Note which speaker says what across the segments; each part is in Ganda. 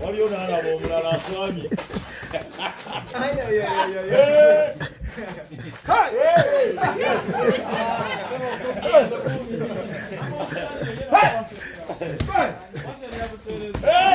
Speaker 1: waliyo
Speaker 2: nalaba omulala aswamye Hey!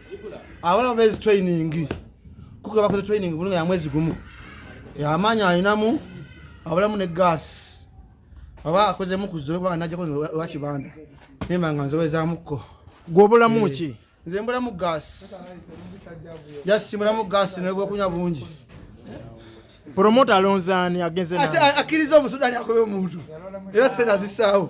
Speaker 3: abana bezi training kuko bakoze training bulunga ya mwezi gumu yamanya alinamu abulamu ne gas aba akoze mu kuzo kuba naje ko wa kibanda nimba nga nzoweza muko gwobola muki
Speaker 4: eh, nze mbola mu gas
Speaker 3: yes mbola mu gas ne bwo kunya bungi
Speaker 4: promoter alonzani agenze na akirizo musudani
Speaker 3: akobe muntu era sera zisawo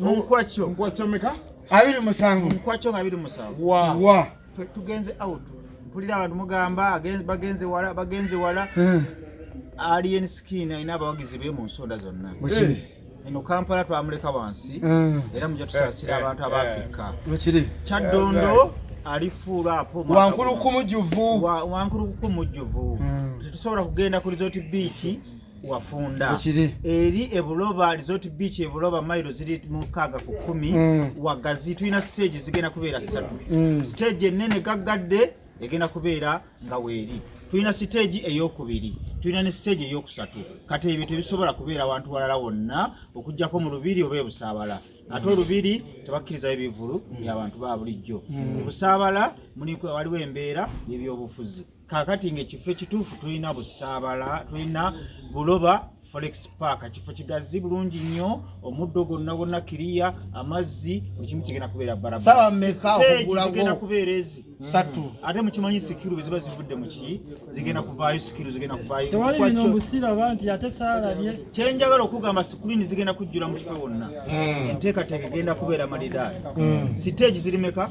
Speaker 1: munkwaco munkwaco meka
Speaker 2: abiri musanvu
Speaker 3: munkwaco nga abiri
Speaker 1: musanvu wa wa
Speaker 3: tugenze out
Speaker 1: mpulira abantu mugamba bagenze wala bagenze wala eh. alien skin alina abawagizi be mu nsonda zonna eh. eno kampala twamuleka wansi eh. era muja tusasira abantu abafika kiri
Speaker 3: kyaddondo
Speaker 1: alifuula apo wankuluku mujjuvu
Speaker 3: wankuluku
Speaker 1: mujjuvu hmm. tetusobola kugenda ku resort biiki wafunda Ekiri. eri
Speaker 3: ebuloba
Speaker 1: resort beach ebuloba mailo ziri mukaaga ku kumi Mm. wagazi tulina stage zigenda kubeera ssatu Mm. stage ennene gaggadde egenda kubeera nga weeri tulina siteegi eyokubiri tulina ne siteegi eyokusatu kati ebyo tebisobola kubeera wantu walala wonna okugyako mu lubiri oba ebusaabala ate olubiri tebakkirizayo bivulu byabantu ba bulijjo mu busaabala muli- waliwo embeera yebyobufuzi kakati nga ekifo ekituufu tulina busaabala tulina buloba forex park kifo kigazi bulungi nnyo omuddo gonna gonna kiriya amazzi buli kimu kigenda kubeera barabaagenda
Speaker 3: kubeera ezi
Speaker 1: satu mm. ate
Speaker 3: mukimanyi
Speaker 1: sikiru bweziba zivudde muki zigenda kuvaayo sikiru zigenda
Speaker 5: kuvayokyenjagala okugamba
Speaker 1: sikulini zigenda kujjula mu kifo wonna mm. enteekateeka egenda kubeera malidaali mm. siteegi zirimeka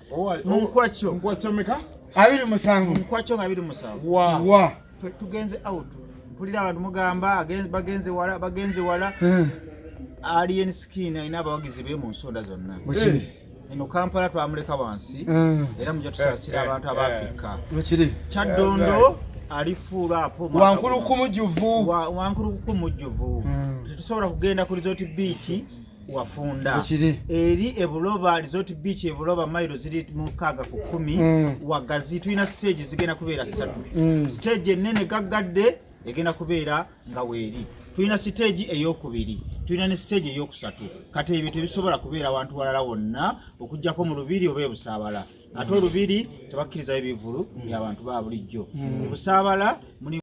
Speaker 1: munkwakyo munkwakyo meka
Speaker 6: abiri musanvu
Speaker 3: munkwakyo nga abiri
Speaker 1: musanvu wa wa
Speaker 3: tugenze
Speaker 1: out mpulira abantu mugamba bagenze wala bagenze wala hmm. alien skin alina abawagizi be mu nsonda zonna eh. eno kampala twamuleka wansi hmm. era muja tusasira eh, abantu eh, abafika kiri kyaddondo alifuula apo wankulukumu jjuvu
Speaker 3: wankulukumu
Speaker 1: jjuvu hmm. tetusobola kugenda ku resort biiki wafunda Ekiri. eri
Speaker 3: ebuloba
Speaker 1: resort beach ebuloba mailo ziri mukaaga ku kumi Mm. wagazi tulina stage zigenda kubeera ssatu Mm. stage ennene gaggadde egenda kubeera nga weeri tulina siteegi eyokubiri tulina ne siteegi eyokusatu kati ebyo tebisobola kubeera wantu walala wonna okugyako mu lubiri oba ebusaabala ate olubiri tebakkirizayo bivulu byabantu ba bulijjo ebusaabala muli